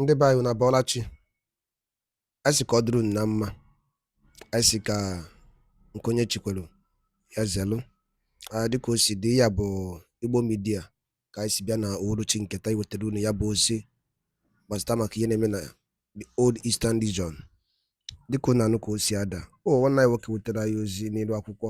ndị be anyị unu abọọla chi anyị sị ka ọ dịrị unu na mma anyị sị ka nke onye chi kwelu ya zelụ dịka o si dị ya bụ Igbo media ka anyị si bịa na uhuruchi nke taa iwetara unu ya bụ ozi gbasịta maka ihe na-eme na the old eastern region dịka unu anụ ka o si ada ọ nwanne anyị nwoke wetara anyị ozi n'elu akwụkwọ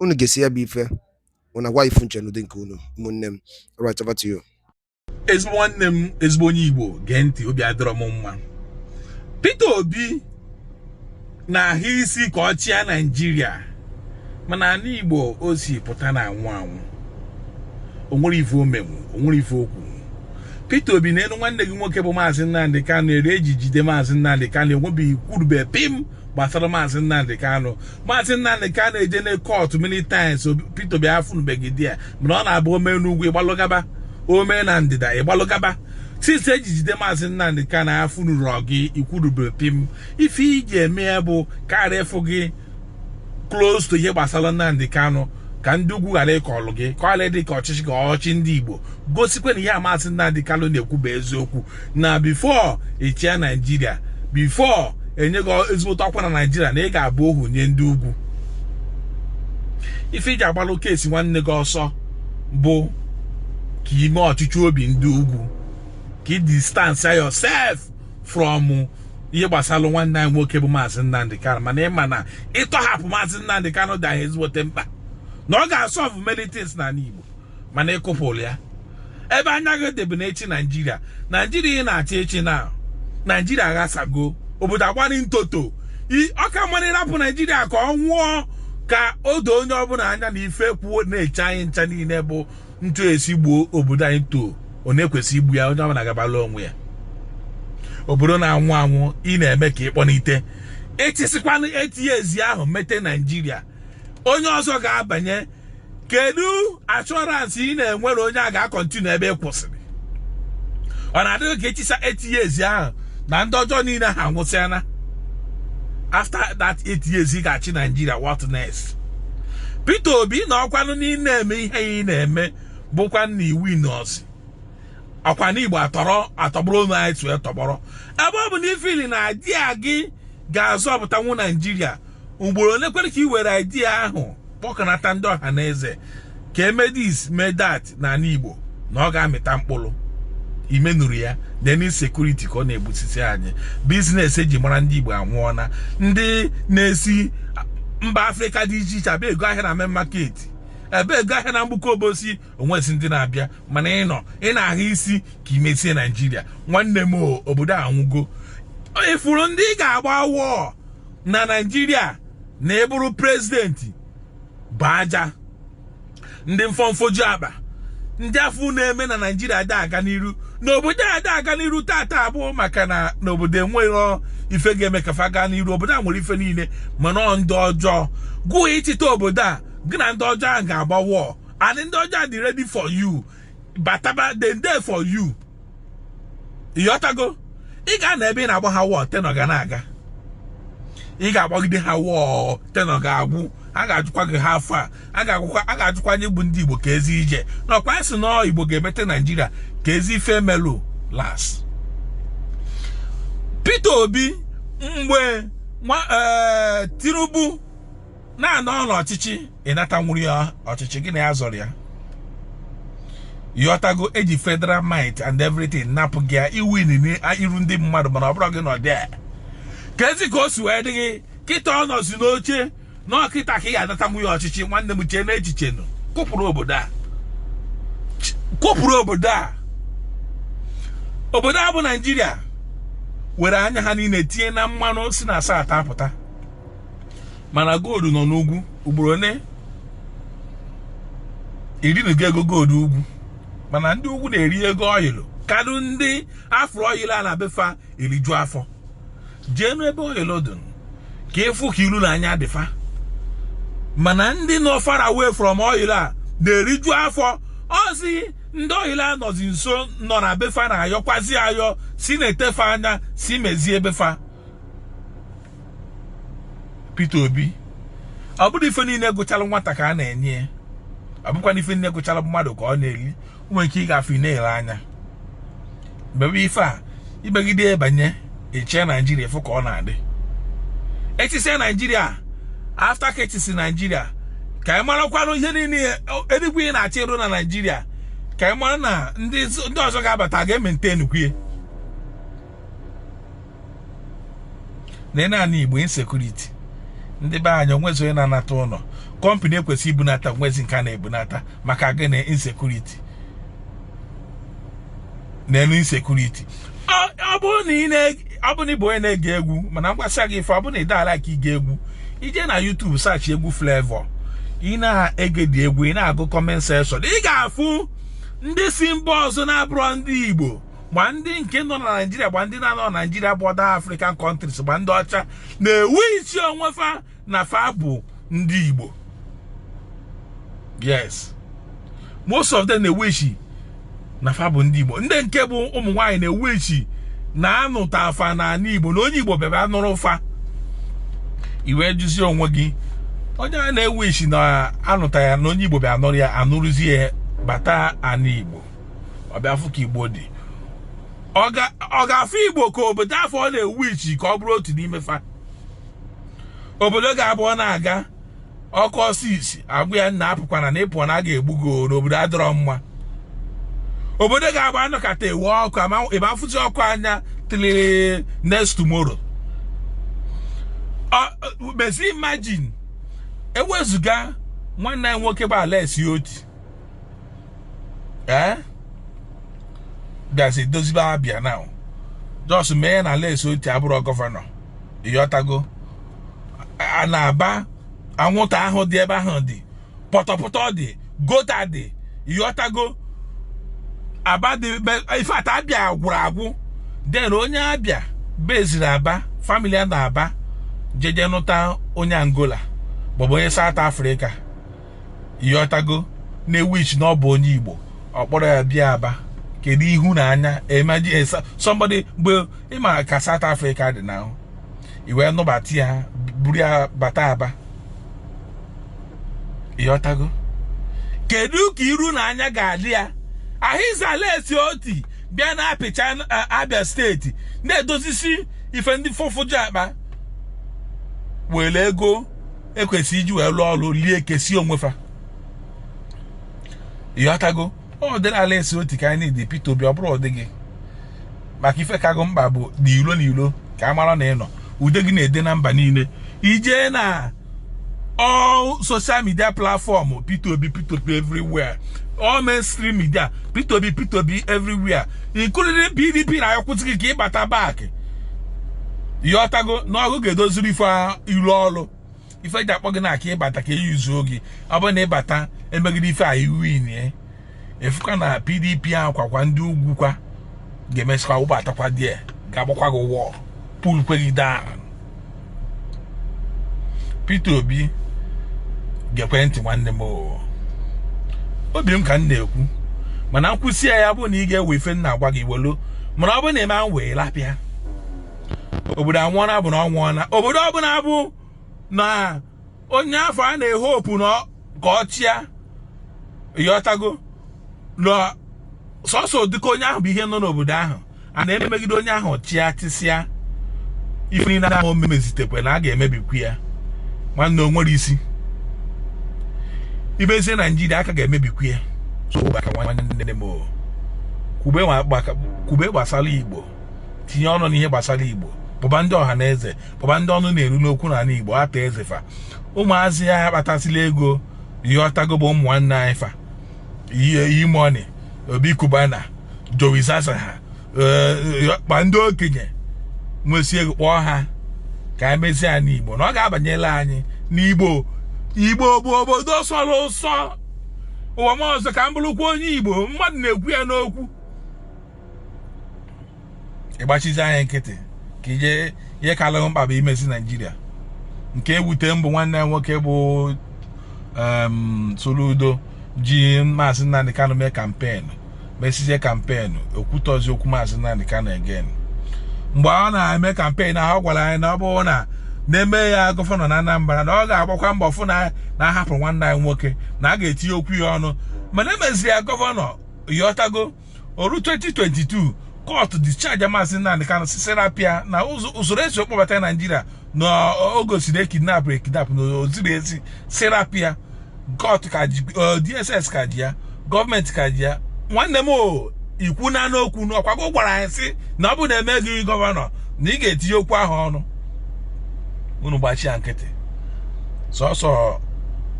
unu gesịa ya bụ ife unu agwa ife unu che n'ụdị nke unu ụmụnne m right over to you ezigbo nwanne m ezigbo onye Igbo gee ntị obi adịrọ m mma Peter Obi na-ahụ isi ka ọ chịa Naịjirịa mana ala Igbo o si pụta na-anwụ anwụ o nwere ife o menwu o nwere ife o kwu Peter Obi nenụ nwanne gị nwoke bụ maazị Nnamdi Kanu eri e ji jide maazị Nnamdi Kanu enwebeghị kwurube pim gbasara maazị Nnamdị Kanụ maazị Nnamdị Kanụ ejena kọtụ many times Peter Obi afụnụbeghị there mana ọ na-abụ o mee n'ugwu ị gbalụ gaba o mee na ndịda ị gbalụ gaba since e ji jide maazị Nnamdị Kanụ afụnụrọ gị ikwurubere pim ife i ji eme ya bụ ka a ghara ịfụ gị close to ihe gbasara Nnamdị Kanụ ka ndị ugwu ghara ịkọlụ gị ka ọla dị ka ọchịchị ka ọchị ndị Igbo gosikwa na ihe maazị Nnamdị Kanụ na-ekwu bụ eziokwu na before ị chịa naijiria before e nye gị ezigbote ọkwa na naijiria na ị ga-abụ ohu nye ndị ugwu ife i ji agbalụ case nwanne gị ọsọ bụ ka i mee ọchịchọ obi ndị ugwu ka ị distance yourself from ihe gbasara nwanne anyị nwoke bụ maazị Nnamdi Kanu mana ị ma na ịtọhapụ maazị Nnamdi Kanu dị anyị ezigbote mkpa na ọ ga-asọvụ many things n'ala Igbo mana ịkụpụrụ ya ebe anya gị dị bụ n'ịchị naijiria naijiria ị na-achọ ịchị na naijiria aghasago obodo agbari ntoto ọ ka mma nụ ịrapụ naijiria ka ọ nwụọ ka o doo onye ọbụla anya na ife kwụ na-eche anyị ncha niile bụ ntu esi gbuo obodo anyị too ọ na-ekwesị igbu ya onye ọbụla gabala onwe ya obodo na-anwụ anwụ ị na-eme ka ị kpọnite ị chịsịkwanụ eight years ahụ mete naijiria onye ọzọ ga-abanye kedu assurance ị na-enwere onye a ga-akọntinu ebe ị kwụsịrị ọ na-adị gị ka ị chịsịa eight years ahụ na ndị ọjọọ niile ha anwụsịana after that eight years ị ga-achị Nigeria what next Peter Obi na ọkwanụ na ị na-eme ihe ị na-eme bụkwa na iwu nọọsụ ọkwa na igbo atọrọ atọgbọrọ onwe anyị tụọ tọgbọrọ ebe ọ bụ na ị feel na idea gị ga-azọpụtanwu naijiria ugboro ole kwere ka i were idea ahụ kpọkọnata ndị ọha na eze ka e mee this mee that n'ala Igbo na ọ ga-amịta mkpụrụ imenuru ya nene security ka ọ na-egbusisi anyị business eji mara ndị Igbo anwụọna ndị na-esi mba Afrịka dị iche iche abịa ego ahịa na main market abịa ego ahịa na Mgbuka Obosi o nwezi ndị na-abịa mana ị nọ ị na-ahụ isi ka i mezie naijiria nwanne m obodo a anwụgo ifuru ndị ị ga-agba war na naijiria na ị bụrụ prezidenti bụ ajọ ndị mfọ mfoju akpa ndị afụ na-eme na naijiria ada aga n'iru n'obodo a ada aga n'iru tata abụọ maka na n'obodo enwerọ ife ga-eme ka fa gaa n'iru obodo a nwere ife niile mana ọ ndị ọjọọ gụọ ịchịta obodo a gị na ndị ọjọọ ahụ ga-agba war and ndị ọjọọ a dị ready for you bataba dem dey for you ịghọtago ị ga-anọ ebe ị na-agba ha war tenure ga na-aga ị ga-agbagide ha war tenure ga-agwụ a ga-ajụkwa gị how far a ga-ajụkwa anyị bụ ndị Igbo kezi ije n'ọkwa a sị na Igbo ga-emete Naijiria kezi ife melụ last Peter Obi mgbe eh, Tinubu na-anọrọ n'ọchịchị ị natanwurọ ya ọchịchị gị na ya zọrọ ya ịghọtago eji federal might and everything napụ gị ya i win n'iru ndị mmadụ mana ọ bụrọ gị nọ there kezi ka o si wee dị gị kịta ọ nọzi n'oche na ọ kịta ka ị ga-anatanwu ya ọchịchị nwanne m chee n'echiche nụ kụpụrụ obodo a kụpụrụ obodo a obodo a bụ naijiria were anya ha niile tinye na mmanụ si na South apụta mana gold nọ n'ugwu ugboro one i rinugo ego gold ugwu mana ndị ugwu na-eri ego oil kadụ ndị afụrụ oil a na befa eriju afọ jeenụ ebe oil dị ka ị fụ ka ilu na anya dị fa mana ndị nọ far away from oil a na-eriju afọ ọzi ndị oil a nọzi nso nọ na befa na-ayọkwazi ayọ sị nete fa anya sị mezie befa Peter Obi ọ bụrọ ife niile gụchalụ nwata ka a na-enye ya ọ bụkwa na ife niile gụchalụ mmadụ ka ọ na-eli nwere ike ịga afọ na-ele anya mebe ife a i megide i banye chịa naijiria ị fụ ka ọ na-adị ị chịsịa naijiria after ka ị chịsị naijiria ka ị marakwanụ ihe niile enigwe ị na-achọ ịrụ na naijiria ka ị mara na ndị ọzọ ga-abata ga-emaintain enigwe na ime ana igbo insekuriti ndị be anyị o nwezi onye na-anata ụnọ kọmpani ekwesị ibunata o nwezi nke a na-ebunata maka gịnị insekuriti n'enu insekuriti ọ bụrụ na ị bụ onye na-ege egwu mana m gwasịa gị ife ọ bụrụ na ị na-alike ige egwu i je na YouTube search egwu Flavour ị na-egedi egwu ị na-agụ kọment sekshọn ị ga-afụ ndị si mba ọzọ na-abụrọ ndị Igbo gba ndị nke nọ na naijiria gba ndị na-anọ na naijiria bụ other african countries gba ndị ọcha na-ewishi onwe fa na fa bụ ndị igbo yes most of them na-ewishi na fa bụ ndị igbo ndị nke bụ ụmụ nwaanyị na-ewishi na a nụtaa fa na ana igbo na onye igbo bịara nụrụ fa i wee jụzie onwe gị onye a na-ewishi na a nụtaa ya na onye igbo bịa nụrụ ya a nụrụzie bata ala igbo ọ bịa fụ ka igbo dị ọ ga-afụ igbo ka obodo afụ ọ na-ewishi ka ọ bụrụ otu n'ime fa obodo ga-abụ ọ na-aga ọkụ ọsọ isi agwa ya nna apụkwana na ị pụ na a ga-egbu gị na obodo adịrọ mma obodo ga-abụ a nọkata e wee ọkụ ị ma afụzi ọkụ anya till next tomorrow mezi imagine ewezụga nwanne anyị nwoke bụ Alex Oti ee eh? bịazi dozibe Abịa now just mee ya na Alex Oti abụrọ gọvanọ ịghọtago na Aba anwụnta ahụ dị ebe ahụ dị pọtọpọtọ dị gọta dị ịghọtago aba dị ife ata abịa gwụrụ agwụ den onye abịa beziri aba famili ya na Aba jeje nụta onye angola maọbụ onye saụt afrịka ịghọtago na-ewishi na ọ bụ onye igbo ọ kpọrọ ya bịa aba kedu ihu na anya imagine eh, somebody mgbe ị ma ka South Africa dị now i wee nụbata ya buru ya bata aba ịghọtago kedu ka iru na anya ga-adị ya here is Alex Oti bịa na-apịcha eh, abịa steeti na-edozisi ife ndị fọfụju akpa were ego ekwesịrị iji wee lụọ ọrụ lie kesie onwefa ịghọtago ụdịrị Alex Oti ka anyị need Peter Obi ọ bụrọ ụdị gị maka ife ka gị mkpa bụ na ilo na ilo ka a mara na ị nọ ude gị na-ede na mba niile i jee na all social media platform Peter Obi Peter Obi everywhere all mainstream media Peter Obi Peter Obi everywhere including PDP na-ayọkwu gị ka ị bata back ịghọtago na ọgụ ga-edoziri ife iru ọrụ ife ji akpọ gị na ọ ka ị bata ka e yuzuo gị ọ bụ na ị bata emegide ife a iwin e. ị fụkwa na pdp ahụ kwakwa ndị ugwu kwa ga-emesịkwa wụbatakwa die ga-agbakwa gị wọl pulkwe gị down Peter Obi gekwe ntị nwanne m obi m ka m na-ekwu mana m kwusịa ya bụ na ị ga-ewe ife m na-agwa gị welu mana ọ bụ na ị ma-ewe lapịa obodo anwụọna bụ na ọ nwụọna obodo ọbụla bụ na onye afụ a na-ehopu na ka ọ chịa ịghọtago na sọsọ dịka onye ahụ bụ ihe nọ n'obodo ahụ a na-emegide onye ahụ chịa chịsịa ife niile ahụ ọ ma-emezitekwe na a ga-emebikwu ya nwanne o nwere isi imezie naijiria aka ga-emebikwu ya kwube gbasara igbo tinye ọnụ n'ihe gbasara igbo kpọba ndị ọha na eze kpọba ndị ọnụ na-eru n'okwu n'ala igbo Arthur Eze fa ụmụazị a kpatasịla ego ịghọtago bụ ụmụ nwanne anyị fa E-Money Obi Cubana Jowi Zaza ha eh, kpa ndị okenye nwesị ego kpọọ ha ka e mezie anị igbo na ọ ga-abanyela anyị n'igbo igbo bụ obodo sọrọ ụsọ ụwa m ọzọ ka m bụrụkwa onye igbo mmadụ na-ekwu ya n'okwu ị gbachizi anyị nkịtị ka ihe kalụ gị mkpa bụ imezi naijiria nke ewute m bụ nwanne anyị nwoke bụ Soludo ji maazị Nnamdi Kanu mee kampeenụ mesizie kampeenụ o kwutọzi okwu maazị Nnamdi Kanu again mgbe ọ na-eme kampen ahụ ọ gwara anyị na ọ bụrụ na na e mee ya gọvanọ na Anambra na ọ ga-agbakwa mbọ fụ na na a hapụ nwanne anyị nwoke na a ga-etinye okwu ya ọnụ mana e mezie ya gọvanọ ịghọtago o ru 2022 kọtụ discharge maazị Nnamdi Kanu sị sị rapịa na usoro e si kpọbata naijiria na o gosiri ekidnap ekidnap na o zirọ ezi sị rapịa kọtụ ka ji dss ka ji ya gọọmenti ka ji ya nwanne m o ikwu na n'okwu na ọ kwa gị gwara anyị sị na ọ bụ na e mee gị gọvanọ na ị ga-etinye okwu ahụ ọnụ unu gbachi ya nkịtị sọsọ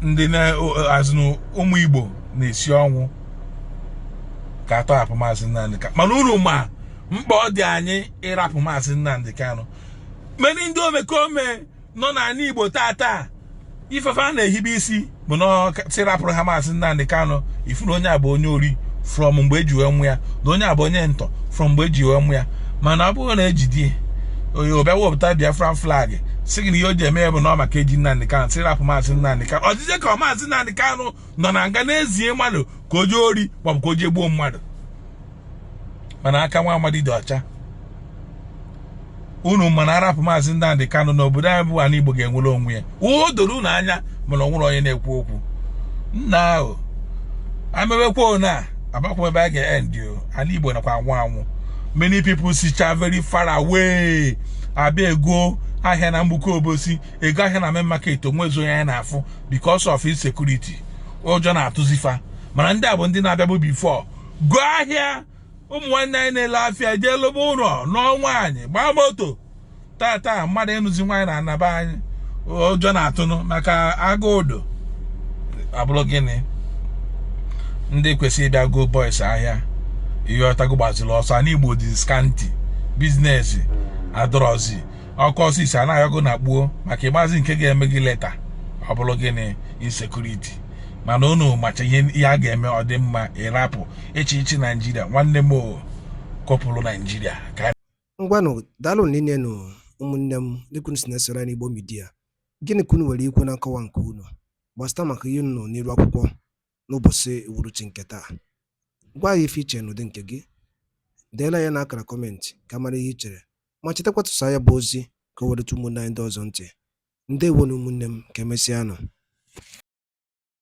ndị na-azụ ụmụ igbo na-esi ọnwụ ka a tọhapụ maazị Nnamdị Kanụ mana unu ma mkpa ọ dị anyị ịrapụ maazị Nnamdị Kanụ many ndị omekome nọ n'ala Igbo tata ife fa na-ehibe isi bụ na sị rapụrụ ha maazị Nnamdị Kanụ ị fụ na onye a bụ onye ori from mgbe e ji wee mụa ya na onye a bụ onye ntọ from mgbe e ji wee mụa ya mana ọ bụrụ na e jidie ọ bịa wepụta Biafra flag sị gị na ihe o ji eme ya bụ na ọ maka eji Nnamdị Kanụ sị rapụ maazị Nnamdị Kanụ ọ dịzie ka maazị Nnamdị Kanụ nọ na nga na-ezie mmadụ ka o jee ori maọbụ ka o jee gbuo mmadụ mana aka nwa amadi dị ọcha unu ma na a rapụ maazị Nnamdi Kanu na obodo anyị bụ ala Igbo ga-enwere onwe ya o doro unu anya mana o nwere onye na-ekwu okwu nna ahụ amewekwa ona abakwụ ebe a ga-endi ala Igbo nakwa anwụ anwụ many people sicha very far away abịa ego ahịa na Mgbuka Obosi ego ahịa na main market o nwezi onye anyị na-afụ because of insecurity ụjọ na-atụzi fa mana ndị a bụ ndị na-abịabu before goo ahịa ụmụ nwanne anyị na-ele afịa ji lụọ ụlọ nụọ nwaanyị gbaa moto taata mmadụ ịnụzi nwaanyị n'ana be anyị ụjọ na-atụnụ maka agụụ dụ ọ bụrụ gịnị ndị kwesịrị ịbịa goo boys ahịa ị ghọtago gbaziri ọsọ ana Igbo dịzi scanty business adịrọzi ọ kụọ isii a na-ayọgo na gbuo maka ị mazi nke ga-eme gị later ọ bụrụ gịnị insecurity mana unu macha ihe a ga-eme ọ dị mma ịrapụ echiche Naijiria nwanne m kọpụrụ Naijiria ngwanụ daalụ nne nụ ụmụnne m dịka i si na-esoro anyị Igbo Media gịnị ka unu nwere ikwu na nkọwa nke unu gbasịta maka ihe unu n'iru akwụkwọ n'ụbọchị uhuruchi nke taa gwa anyị ife i che n'ụdị nke gị deela ya na akara comment ka a mara ihe i chere ma chetakwa tụsaa ya bụ ozi ka o wee rute ụmụnne anyị ndị ọzọ ntị ndewonu ụmụnne m ka emesịanụ